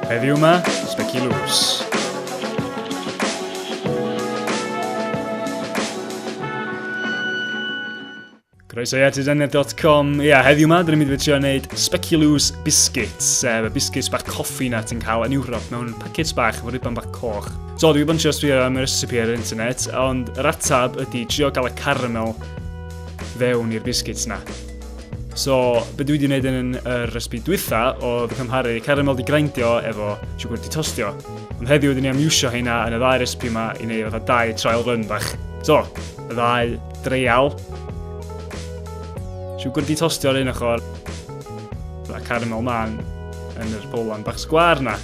Heddiw yma, Speculous. Croeso i atidaniad.com. Ia, yeah, heddiw yma, dyn ni'n mynd i trio wneud Speculous Biscuits. Sef y biscuits bach coffi na ti'n cael yn Ewrop mewn packets bach efo ribon bach coch. So, dwi wedi bod yn sbio am y recipe ar yr internet, ond yr atab ydy trio gael y caramel fewn i'r biscuits na. So, be dwi wedi gwneud yn yr ysbi dwytha oedd cymharu caramel di grindio efo siwgr di tostio. Ond heddiw ydyn ni am iwsio heina yn y ddau respi yma i wneud fatha dau trial run bach. So, y ddau dreial. Siwgr di tostio ar un ochr. A caramel man yn yr bowlan bach sgwar na.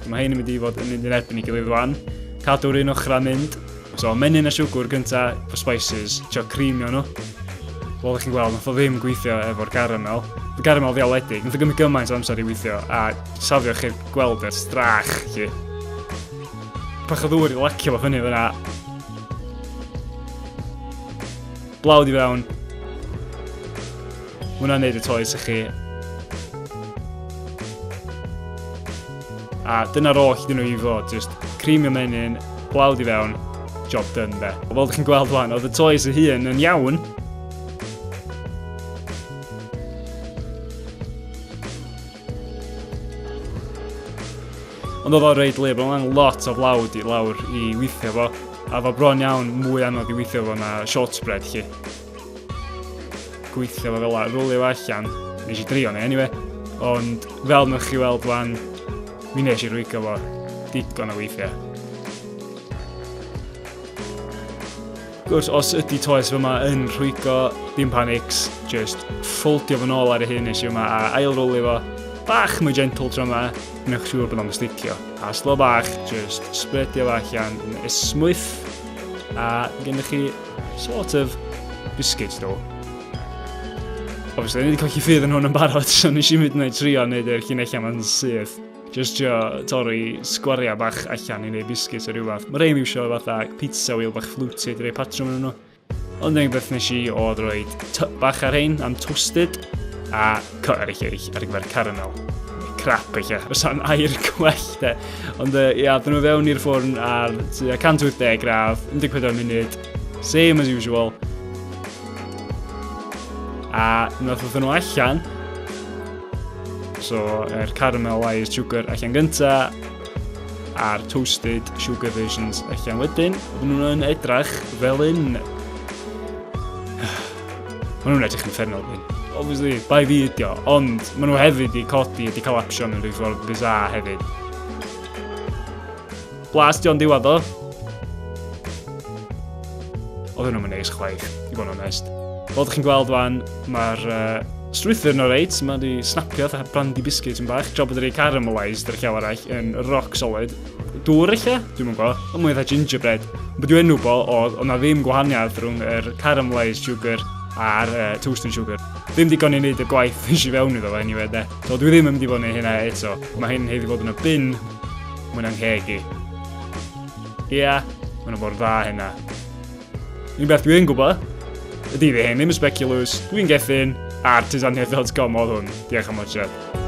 Mae hyn yn mynd i fod yn mynd yn erbyn i gilydd rwan. Cadw'r un ochr a mynd. So menyn a siwgwr gynta for spices, trio creamio nhw. Fel ydych chi'n gweld, nath o ddim gweithio efo'r garamel. Y garamel ddiawledig, nath o gymryd gymaint o amser i weithio a safio chi'r gweld e'r strach chi. Pach o ddŵr i lacio fo fyny fyna. Blawd i fewn, Mae hwnna'n neud y toes i chi. A dyna'r oll dyn nhw i fod, just cream y menyn, blawd i fewn, job done be. Fel ydych chi'n gweld wan, oedd y toes y hun yn iawn, Ond oedd o'n reid lib, ond o'n lot o flawd i lawr i weithio fo. A fo bron iawn mwy anodd i weithio fo na short spread chi. gweithio fo fel a, rwlio allan. Nes i drio ni, anyway. Ond fel mwch chi weld wan, mi nes i rwygo fo digon o weithiau. Gwrs, os ydy toes fy yma yn rhwygo, dim panics, just ffoldio fy nôl ar y hyn nes i yma a ail rwlio fo. Bach mwy gentle tro yma, newch siŵr bod o'n sticio. A slo bach, just spreadio fo allan, ysmwyth, a gennych chi sort of biscuit ddo. Obviously, ni wedi colli ffydd yn hwn yn barod, so nes i mynd yna i trio wneud yr llinellau ma'n syth. Just trio torri sgwariau bach allan i wneud biscuit o rhywbeth. Mae rei miwsio fatha pizza wheel bach fluty, dwi rei patrwm yn nhw. Ond un beth nes i oedd roed typ bach ar hein am toasted, a Cor eich eich ar gyfer caramel. Crap eich eich, os o'n air gwell de. Ond uh, ia, dyn nhw fewn i'r ffwrn ar 180 gradd, 14 munud, same as usual. A nath oedd nhw allan, so yr er caramel wise sugar allan gynta, a'r toasted sugar versions allan wedyn. Oedden nhw'n edrych fel un Maen nhw'n edrych yn ffernol fi. Obviously, bai fi ydi o, ond maen nhw hefyd wedi codi, wedi cael action yn rhyw ffordd bizarre hefyd. Blas di o'n diwedd o. Oedd hwnnw'n mynd neis chwaith, i fod yn onest. Fel ydych chi'n gweld fan, mae'r uh, strwythyr yn reit, mae wedi snapio fatha brandy biscuit yn bach, tra bod wedi caramalised yr llaw arall yn rock solid. Dŵr ella? Dwi'm yn gwa. Ond mwy fatha gingerbread. Ond beth yw enw bo oedd, oedd na ddim gwahaniaeth rhwng yr er caramelised sugar a'r uh, toasting sugar. Ddim digon i wneud y gwaith nes i fewn iddo fe anyway de. So dwi ddim yn mynd i fod yn hynna eto. Mae hyn hefyd fod yn y bin. Mae'n angheg i. Ia, yeah, mae'n fod dda hynna. Un beth dwi'n gwybod, ydy fi hyn, ddim yn speculous, dwi'n gethin, artisaniaeth.com oedd hwn. Diolch am watcher.